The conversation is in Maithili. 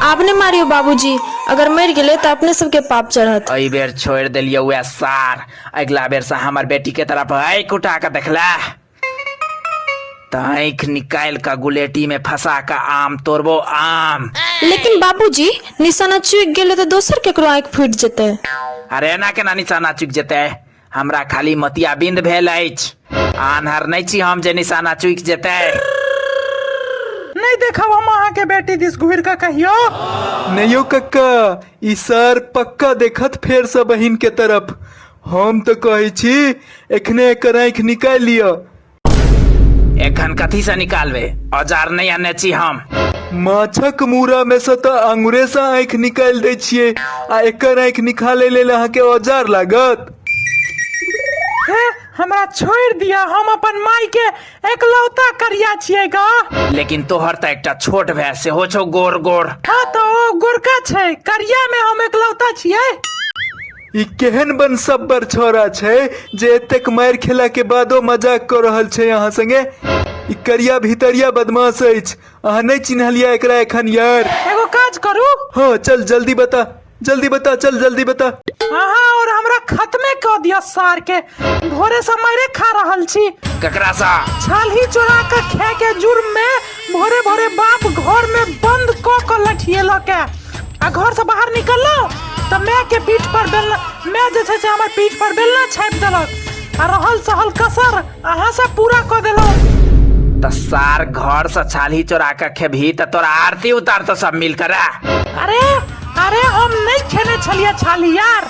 आब नहि मारियौ बाबूजी अगर मरि गेलै तऽ अपने सबके पाप चढ़त एहि बेर छोड़ि देलियौ उएह सार अगिला बेरसँ हमर बेटीके तरफ आँखि उठा कऽ देखला तऽ आँखि निकालि कऽ गुलेटीमे फंसा कऽ आम तोड़बो आम लेकिन बाबूजी निशाना चुकि गेलै तऽ दोसर केकरो आँखि फूटि जेतै अरे एना केना निशाना चुकि जेतै हमरा खाली मोतियाबिन्द भेल अछि आन्हर नहि छी हम जे निशाना चुकि जेतै नहि देखब हम अहाँके बेटी दिस घुरि कऽ कहियो नहि यौ कक्का ई सर पक्का देखत फेरसँ बहिन के तरफ हम तऽ कहै छी एखने एकर आँखि निकालि लिअ एखन कथी से निकालबे औजार नहीं आने छी हम माछक मूरा में से तऽ अंगुरे से आँखि निकालि दै छियै आ एकर आँखि निकाले लेल अहाँके औजार लागत हे हमरा छोड़ दिया हम अपन माई के एकलौता करिया छिए गा लेकिन तोहर तऽ एकटा छोट भाय सेहो छौ गोर गोर हाँ तो ओ गोरका छै करिया में हम एकलौता छिए ई केहन बनसब्बर छौड़ा छै जे एतेक मारि खेलाके बादो मजाक कऽ रहल छै अहाँ संगे ई करिया भितरिया बदमाश अछि अहाँ नहि चिन्हलियै एकरा एखन यार एगो काज करू हँ चल जल्दी बता जल्दी बता चल जल्दी बता अहाँ और हमरा खत्मे कऽ दिअ सार के भोरे से मारे खा रहल छी ककरा सा छालही चोरा के खाए के जुर्म में भोरे भोरे बाप घर में बंद क के लठिएल के आ घर से बाहर निकललो त माय के पीठ पर बेलना माय जे छै से हमर पीठ पर बेलना छापि देलक आ रहल सहल कसर अहाँ से पूरा क देलौ त सार घर से छालही चोरा के खेबही त तोरा आरती उतार तो सब मिल कर अरे अरे हम नहीं खेने छलिए छाली यार